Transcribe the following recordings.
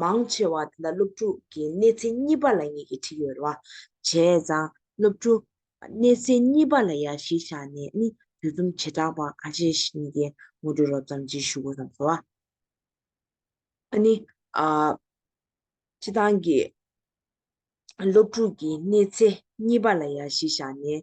མང་ཆེ་བ་དེ་འདྲ་སློབ་ཕྲུག་གི་གནས་ཚེ་གཉིས་པ་ལ་ངེད་ཀྱིས་ཁྲིད་ཡོད་རེད། བྱས་ཙང་སློབ་ཕྲུག་གནས་ཚེ་གཉིས་པ་ལ་ཡར་གཞི་བཞག་ནས་ནི་དུས་རྩོམ་བྱེ་བྲག་པ་གང་བྱེད་བཞིན་གྱི་ངོ་སྤྲོད་རོབ་ཙམ་བགྱིས་ཞུ་དགོས་བསམ་སོང། ཨ་ནི། ཁྱེད་རང་གིས་སློབ་ཕྲུག་གི་གནས་ཚེ་གཉིས་པ་ལ་ཡར་གཞི་བཞག་ནས།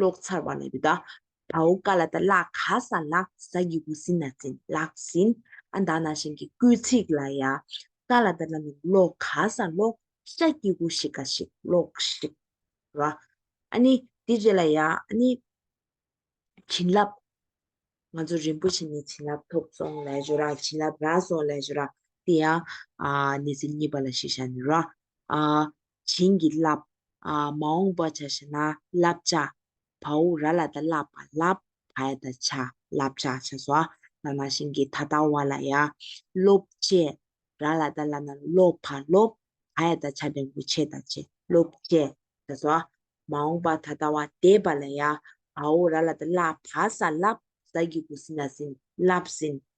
ལོག་ཚར་བ་ལ་ཡུ་དྭགས་བའོ་ཀ་ལ་ད་ལག་ག་ས་ལགས་ཟ་ཡི་འུ་སི་ན་ཛིན་ལགས་ཟིན་ཨ་ད་ན་ཤིང་གི་སྐུལ་ཚིག་ལ་ཡ་ཀ་ལ་ད་ལ་མི་ལོག་ག་ས་ལོག་ཤ་སྐྱི་གུ་ཤི་ཀ་ཤིག་ལོག་ཤིག་ར་ཨ་ནི་དེ་རྗེས་ལ་ཡ་ཨ་ནི་བྱིན་རླབས་ང་ཚོ་རིན་པོ་ཆེ་ནས་བྱིན་རླབས་ཐོབ་སོང་ལས་བྱོ་ར་བྱིན་རླབས་རག་སོང་ལས་བྱོ་ར་དེ་ཡང་ཨ་ནི་ཟིན་གཉིས་པ་ལ་ཤི་ཤ་ནི་ར་ཨ། བྱིན་གྱིས་བརླབ། མ་འོངས་པ་བྱ་ཞེ་ན་བསླབ་བྱ། བའུ་ར་ལ་ད་བསླབ་པ་བསླབ། བའི་ད་བྱ་བསླབ་བྱ་བྱ་སོ། ལ་ན་ཤིང་གི་ད་ལྟ་བ་ལ་ཡ། སློབ། བྱེད་ར་ལ་ད་ལ་ན་སློབ་བ་སློབ། བའི་ད་བྱ་འབྲས་བུ་ཆེ་ད་བྱེད་སློབ། བྱེད་བྱ་སོ། མ་འོངས་པ་ད་ལྟ་བ་འདས་པ་ལ་ཡ། བའུ་ར་ལ་ད་བསླབ་བ་ས་བསླབ། ས་ཀྱི་དགུ་ཟིན་ན་ཟིན་བསླབ་ཟིན།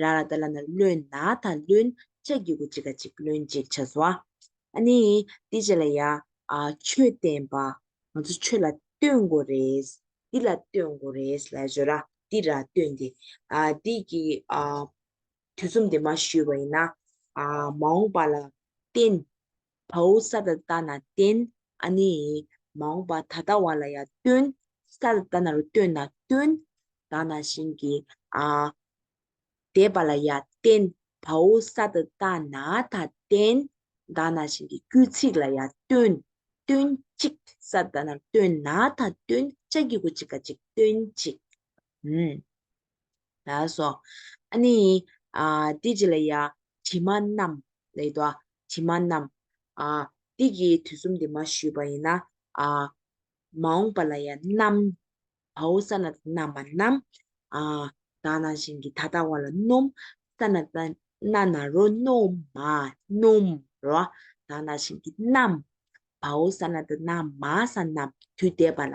ར་ར་ད་ལ་ན་བློན་ན་ད་བློན་ཅ་གི་གུ་ཅི་ག་ཅིག་བློན་ཅིག་ཆ་བཟོ་ཨ། ཨ་ནི་འདི་བྱས་ལ་ཡ། ཆོས་བསྟན་པ། ང་ཚོ་ཆོས་ལ་ལྟོས་དགོས་རེད། འདི་ལ་ལྟོས་དགོས་རེད་ལ་བཟོ་ར་འདི་ར་ལྟོས་འདི། འདི་གི། དུས་རྩོམ་འདི་མ་ཞུས་པ་ཡིན་ན། མ་འོངས་པ་ལ་བརྟེན། བའུ་ས་ད་ལྟ་ན་བསྟན། ཨ་ནི། མ་འོངས་པ་ད་ལྟ་བ་ལ་ཡང་སྟོན། ས་ད་ལྟ་ན་རུ་སྟོན་ན་སྟོན། ད་ན་བཞིན་གྱི། ཨ་འདས་པ་ལ་ཡང་བསྟན། བའུ་ས་ད་ལྟ་ན་ད་བསྟན། ད་ན་བཞིན་གྱི་དཀྱུས་ཚིག་ལ་ཡང་སྟོན། སྟོན་ཅིག། ས་ད་ལྟ་ན་རུ་སྟོན་ན་ད་སྟོན། ལྕགས་ཀྱི་གུ་ཅིག་ག་ཅིག་སྟོན་ཅིག། ཨུན། ལགས་སོ། ཨ་ནི། དེ་ཅི་ལ་ཡ། དྲི་མ་རྣམས། ལེགས་དོ། དྲི་མ་རྣམས། དེ་ཀྱི་དུས་གསུམ་དེ་མ་ཞུས་པ་ཡིན་ན། མ་འོངས་པ་ལ་ཡ། རྣམ། བའོ། ས་ན་ཏཱ་རྣམ་པ་རྣམས། དག་སྣང་བཞིན་གྱི་ད་ལྟ་བ་ལ་སྣོམ། ས་ན་ཏཱ། ན་ན་རོ། སྣོམ། མ། སྣོམ། རོ། དག་སྣང་བཞིན་གྱི་རྣམ། བའོ། ས་ན་ཏཱ་རྣམ། མ། ས་རྣམས། དུས་འདས་པ་ལ།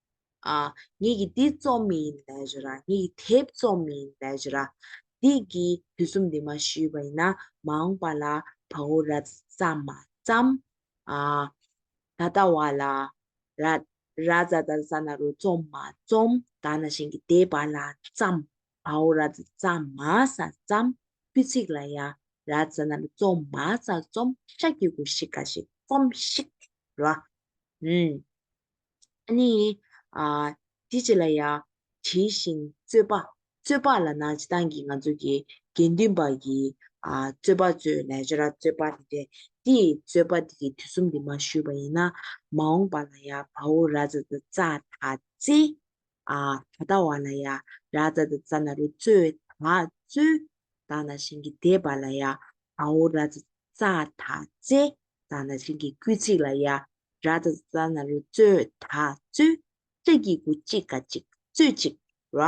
ཉིད་ཀྱིས་འདི་རྩོམ་མི་ཡིན་ལས་བྱེད་ར། ཉིད་ཀྱིས་དེ་རྩོམ་མི་ཡིན་ལས་བྱེད་ར། འདི་གིས་དུས་རྩོམ་འདི་མ་ཞུས་པ་ཡིན་ན་མ་འོངས་པ་ལ་བ་འོ་ར་ཙ་མ་ཙམ། ད་ལྟ་བ་ལ་ར་ར་ཙ་ཙ་ཙ་ན་རུ་རྩོམ་མ་རྩོམ་ད་ན་བཞིན་གྱི་དེ་བ་ལ་ཙམ་བ་འོ་ར་ཙ་ཙ་མ་ས་ཙམ་པུས་ཚིགས་ལ་ཡ་ར་ཙ་ན་རུ་རྩོམ་མ་ཙ་རྩོམ་ཤ་ཀྱི་གུ་ཤི་ཀ་ཤི་སྐོམ་ཤིག་ར། ཨ་ནི། དེ་ཅི་ལ་ཡ། དྲིས་ཤིང་རྩོད་པ། རྩོད་པ་ལ་ན་ཅི་ཐང་གིས་ང་ཚོ་གི་དགེ་འདུན་པ་གིས་རྩོད་པ་རྩོད་ལས་བྱེད་ར་རྩོད་པ་རེད་དེ། དེ་ཡི་རྩོད་པ་དེ་གི་དུས་གསུམ་དེ་མ་བཞུད་པ་ཡིན་ན། མ་འོངས་པ་ལ་ཡ་བ་འུ་ར་ཛ་ཛ་ཙ་ཐ་ཙི། ད་ལྟ་བ་ལ་ཡ་ར་ཛ་ཛ་ཙ་ན་རུ་རྩོད་ཐ་རྩོད། ད་ན་ཤིང་གི་དེད་པ་ལ་ཡ་བ་འུ་ར་ཛ་ཛ་ཙ་ཐ་ཙི། ད་ན་བྱིན་གྱིས་བསྐུལ་ཚིག་ལ་ཡ་ར་ད་ད་ན་རུ་སྩོལ་ད་སྩོལ། ལྕགས་ཀྱི་གུ་གཅིག་ག་གཅིག་སྩོལ་ཅིག། ར་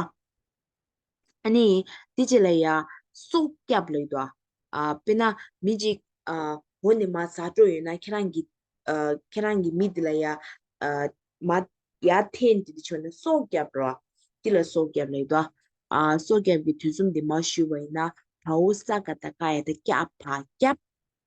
ཨ་ནི་དེ་ཅི་ལ་ཡ། སོགས་སྐྱབས་ལེགས་དོ། དཔེར་ན་མི་ཅིག་འོ་ནི་མ་ཟ་སྤྲོ་ཡོད་ན་ཁྱེད་རང་གི། ཁྱེད་རང་གི་མི་དེ་ལ་ཡ། མ་ཡ་ཐེན་དེ་དེ་ཆོད་ནས་སོགས་སྐྱབས་ར། དེ་ལ་སོགས་སྐྱབས་ལེགས་དོ། སོགས་སྐྱབས་ཀྱི་དུས་གསུམ་དེ་མ་ཞུས་པ་ཡིན་ན་བ་འུ་ས་ག་ད་ཀ་ཡ་ད་སྐྱབས་བ་སྐྱབས།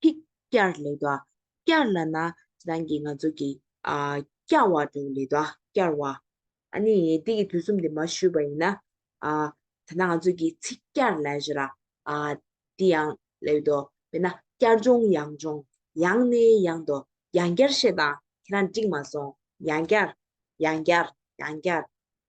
ཐིག། སྐྱར་ལེ་བདའ། སྐྱར་ལ་ན། རང་གིས་ང་ཚོ་གི། སྐྱ་བ་དྲུག་ལེ་བདའ། སྐྱར་བ། ཨ་ནི་འདི་གི་དུས་གསུམ་དེ་མ་ཞུས་པ་ཡིན་ན། ད་ནང་ཚོས་གི་ཚིག་སྐྱར་ལེ་ཞེ་ལ། འདི་ཡང་ལེ་བདའ། དཔེར་ན་སྐྱར་སྦྱོང་ཡང་སྦྱོང། ཡང་ནི་ཡང་བདའ། ཡང་སྐྱར་བཤད་དང་ཁྱེད་རང་འགྲིག་མ་སོང། ཡང་སྐྱར། ཡང་སྐྱར། ཡང་སྐྱར།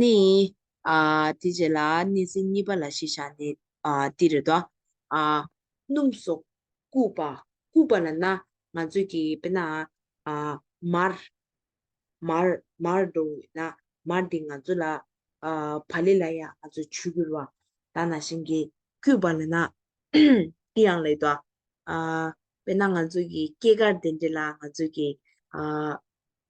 ནི། དེ་རྗེས་ལ་གནས་ཚིག་གཉིས་པ་ལ་ཞེས་བྱ་ནི། འདིར་རྡོ། སྣུམ་སོགས་བཀུག་པ། བཀུག་པ་ལ་ན། ང་ཚོས་ཀྱིས་དཔེར་ན། མར། མར། མར་འགྲོ་བས་ན། མར་འདི་ང་ཚོ་ལ། བ་ལི་ལ་ཡང་ང་ཚོས་ཆུ་བསྐྱུར་བ། ད་ན་བཞིན་གྱིས་བསྐྱུར་བ་ལ་ན། འདི་ཡང་ལེགས་དོ། དཔེར་ན་ང་ཚོས་ཀྱིས་སྐྱེས་སྐར་དེ་འདྲ་ལ་ང་ཚོས་ཀྱིས།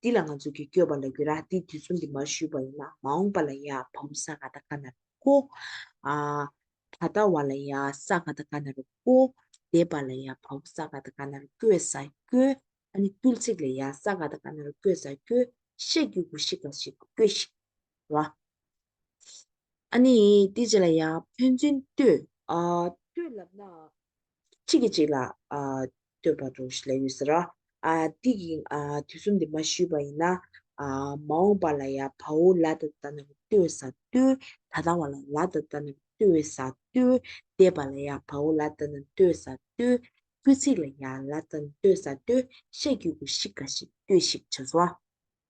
འདི་ལ་ང་ཚོ་གིས་སྐྱོ་བ་ལ་གུ་ར་འདི་དུས་ཚོད་འདི་མར་ཞུས་པ་ཡིན་ན་མ་འོངས་པ་ལ་ཡང་བ་མོ་ས་ག་ད་ག་ན་རུ་ཀོ། ད་ལྟ་བ་ལ་ཡང་ས་ག་ད་ག་ན་རུ་ཀོ། འདས་པ་ལ་ཡང་བ་མོ་ས་ག་ད་ག་ན་རུ་སྐྱོས་ས་སྐྱོ། ཨ་ནི་ཏུལ་ཚིགས་ལ་ཡང་ས་ག་ད་ག་ན་རུ་སྐྱོས་ས་སྐྱོ། ཤེས་རྒྱུད་གུ་ཤི་ག་ཤི་སྐྱོ་ཤི། ར། ཨ་ནི་ཏི་ཇི་ལ་ཡང་ཕན་ཚུན་ལྟོས། ལྟོས་ལབ་ན། གཅིག་གིས་གཅིག་ལ་ལྟོས་པར་འགྲོ་ཞེས་ལས་ཡོད་ཟེར། འདི་ཡིན་དུས་གསུམ་འདི་མ་ཞུས་པ་ཡིན། མ་འོངས་པ་ལ་ཡང་བ་འུ་ལ་དང་ལྟ་ནོར་ལྟོས་ས་ལྟོས། ད་ལྟ་བ་ལ་ལ་དང་ལྟ་ནོར་ལྟོས་ས་ལྟོས། འདས་པ་ལ་ཡང་བ་འུ་ལ་ལྟ་ནོར་ལྟོས་ས་ལྟོས། སྐུལ་ཚིག་ལ་ཡང་ལ་དང་ལྟོས་ས་ལྟོས། བཤད་རྒྱུད་ཀུ་ཤི་ཀ་ཤི་ལྟོས་ཤིག་བྱ་སོ།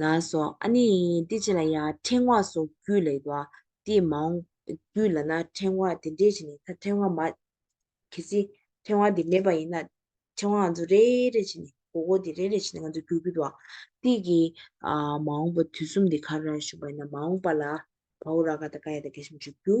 ལ་སོགས་ཨ་ནི་ཏི་ཅི་ལ་ཡང་ཕྲེང་བ་སོགས་རྒྱུད་ལས་ཀྱི་བ་ཏི་མ་འོངས་རྒྱུད་ལ་ན་ཕྲེང་བ་དེ་འདྲའི་བྱས་ནས་ད་ཕྲེང་བ་མ། གལ་སྲིད་ཕྲེང་བ་འདི་མེད་པ་ཡིན་ན་ཕྲེང་བ་ང་ཚོ་རེ་རེ་བྱས་ནས་གོ་གོ་དེ་རེ་རེ་བྱས་ནས་ང་ཚོ་རྒྱུད་རྒྱུད་བ་ཏི་གི་མ་འོངས་པ་དུས་གསུམ་དེ་གར་ར་བཞུགས་པ་ཡིན་ན་མ་འོངས་པ་ལ་བའོ་ར་ག་ད་ཀ་ཡ་ད་གེ་ཤམ་བཞུགས་རྒྱུ།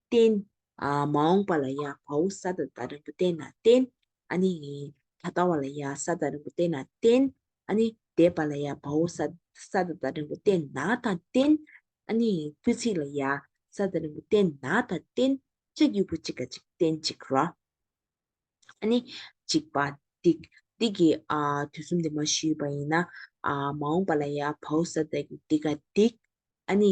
བསྟན། མ་འོངས་པ་ལ་ཡང་བའུ་ས་དང་ད་རིང་པོ་བསྟན་ན་བསྟན། ནི། ད་ལྟ་བ་ལ་ཡང་ས་དང་རིང་པོ་བསྟན་ན་བསྟན། ནི། འདས་པ་ལ་ཡང་བའུ་ས་དང་ད་རིང་པོ་བསྟན་ན་དང་བསྟན། ནི། དཀྱུས་ཚིག་ལ་ཡང་ས་དང་རིང་པོ་བསྟན་ན་དང་བསྟན། ཅེས་དཀྱུས་པོ་གཅིག་ག་ཅིག་བསྟན་གཅིག་རོ། ནི། འཇིག་པ། ཏིག། ཏིག་གི། དུས་གསུམ་དུ་མ་ཞུས་པ་ཡིན་ན། མ་འོངས་པ་ལ་ཡང་བའུ་ས་དང་ཏིག་ག་ཏིག། ནི།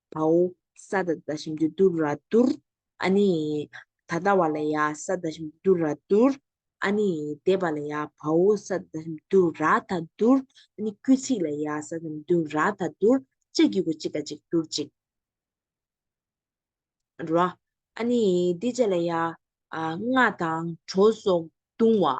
བའོ། ས་དང་དང་ཞིམ་དུ་དུར་ར་དུར། ཨ་ནི། ད་ལྟ་བ་ལ་ཡང་ས་དང་ཞིམ་དུ་དུར་ར་དུར། ཨ་ནི། འདས་པ་ལ་ཡང་བའོ་ས་དང་ཞིམ་དུ་དུར་ར་དང་དུར། ཨ་ནི། སྐུལ་ཚིག་ལ་ཡང་ས་དང་ཞིམ་དུ་དུར་ར་དང་དུར། ལྕགས་ཀྱི་གུ་གཅིག་ཀ་གཅིག་དུར་གཅིག། ར། ཨ་ནི། འདི་བྱས་ལ་ཡང། སྔགས་དང་གྲོ་སོགས་བརྡུང་བ།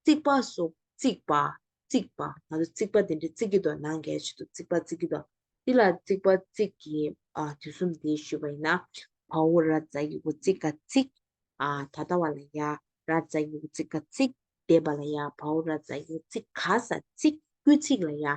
རྩིག་པ་སོགས་རྩིག་པ་རྩིག་པ་ང་ཚོ་རྩིག་པ་དེ་འདྲའི་རྩིག་གི་དོ་སྣང་གལ་ཆེ་འདུག་རྩིག་པ་རྩིག་གི་དོ། འདི་ལ་རྩིག་པ་རྩིག་གི་དུས་གསུམ་འདི་ཞུས་པ་ཡིན་ན། བ་འུ་ར་བཛྲ་ཡི་གུ་རྩིག་ག་རྩིག། ད་ལྟ་བ་ལ་ཡ་ར་བཛྲ་ཡི་གུ་རྩིག་ག་རྩིག། འདས་པ་ལ་ཡ་བ་འུ་ར་བཛྲ་ཡི་གུ་རྩིག་ག་ས་རྩིག། དབུས་ཚིག་ལ་ཡ་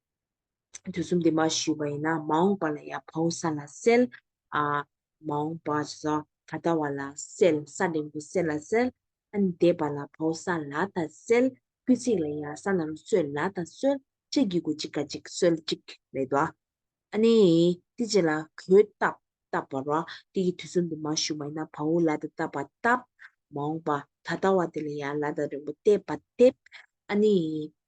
དུས་གསུམ་དེ་མ་ཞུས་པ་ཡིན་ན་མ་འོངས་པ་ལ་ཡང་བོང་ས་ལ་སེལ། མ་འོངས་པ་ཇི་སྲོག་ད་ལྟ་བ་ལ་སེལ་ས་འབྲིང་པོ་སེལ་ལ་སེལ། འདས་པ་ལ་བོང་ས་ལ་ད་སེལ། སྐུལ་ཚིག་ལ་ཡང་ས་ན་རུ་སོད་ལ་ད་སོལ། ཅེས་བགྱི་དགོས་གཅིག་ཀ་གཅིག་སོལ་གཅིག་རེད་དོ། ཨཱ་ནི། དེ་ཅི་ལ་གོལ་བཏབ་བཏབ་པར་རོ། དེ་ཀྱི་དུས་གསུམ་དེ་མ་ཞུས་པ་ཡིན་ན་བོང་བུ་ལ་ད་བཏབ་པ་བཏབ། མ་འོངས་པ་ད་ལྟ་བ་དེ་ལ་ཡང་ལ་ད་རིང་པོ་བཏེབ་པ་བཏེབ། ཨཱ་ནི།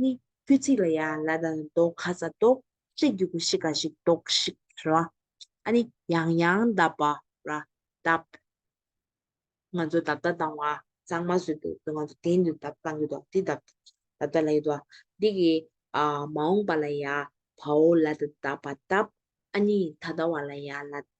ནི། དཀྱུས་ཚིག་ལ་ཡང་ལ་དང་རྡོག་ཁ་ཚ་རྡོག། ཤེས་རྒྱུད་ཀུ་ཤི་ཀ་ཤིག་རྡོག་ཤིག་ར། ཨ་ནི། ཡང་ཡང་འདབ་པ་ར། འདབ། ང་ཚོ་འདབ་བརྡ་བཏང་བ་ཚང་མ་བཟོས་འདུག་ང་ཚོ་དེང་དུས་འདབ་བཏང་གི་འདུག་འདི་འདབ། འདབ་བརྡ་ལ་ཡོད་དོ། འདི་གི། མ་འོངས་པ་ལ་ཡང་བའོ་ལ་དང་འདབ་བ་འདབ། ཨ་ནི། ད་ལྟ་བ་ལ་ཡང་ལ།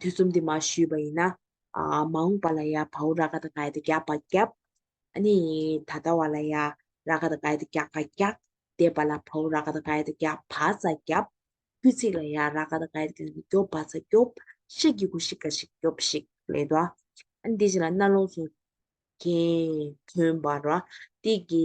ཐེ་ཚོམ་དེ་མ་ཞུས་པ་ཡིན་ན། མ་འོངས་པ་ལ་ཡང་བའུ་ར་ག་དང་གའི་དང་རྒྱག་པ་རྒྱབ། ཨ་ནི་ད་ལྟ་བ་ལ་ཡང་ར་ག་དང་གའི་དང་རྒྱག་པ་རྒྱག། འདས་པ་ལ་བའུ་ར་ག་དང་གའི་དང་རྒྱག་བ་ཙ་རྒྱབ། དཀྱུས་ཚིག་ལ་ཡང་ར་ག་དང་གའི་དང་རྒྱོབ་བ་ཙ་རྒྱོབ། ཤིག་གི་གུ་ཤིག་ག་ཤིག་རྒྱོབ་ཤིག་ལས་དོ། ཨ་ནི་དེ་བཞིན་ལ་རྣ་ལོངས་སུ། གྱེན། ཐོན་པར་རོ། སྟེགས་ཀྱི།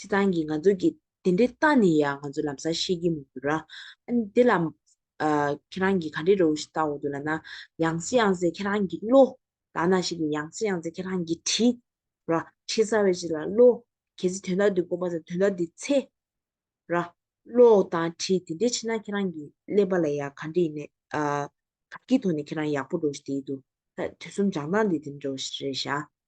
སྤྱི་བཏང་གི་ང་ཚོ་གི་དེ་འདྲའི་རྟགས་ནི་ཡ་ང་ཚོ་ལམ་སང་ཤེས་ཀྱི་མི་འདུག་ར། དེ་ལ། ཁྱེད་རང་གིས་ག་འདྲའི་རོའུ་ཞིག་བཏང་འོ་འདུག་ལ་ན། ཡང་སེ་ཡང་སེ་ཁྱེད་རང་གི་བློ། ལ་ན་ཞིག་ནི་ཡང་སེ་ཡང་སེ་ཁྱེད་རང་གི་དྲི། ར། ཆེས་གསར་བའི་ཞིག་ལ་བློ། གལ་སྲིད་དོན་དག་འདི་དཀོན་པ་དང་དོན་དག་འདི་ཚེ། ར། བློ་དང་དྲི་དེ་འདྲའི་ཆེ་ན་ཁྱེད་རང་གི་ཀླད་པ་ལ་ཡ་ག་འདྲ་ཡིན། ག་གི་ཐོག་ནས་ཁྱེད་རང་ཡག་པོ་འགྲོ་བཞིན་དེ་ཡི་འདུག་ད་དུས་གསུམ་སྦྱང་སྟངས་འདི་དེ་འདྲ་རེད་ཤ།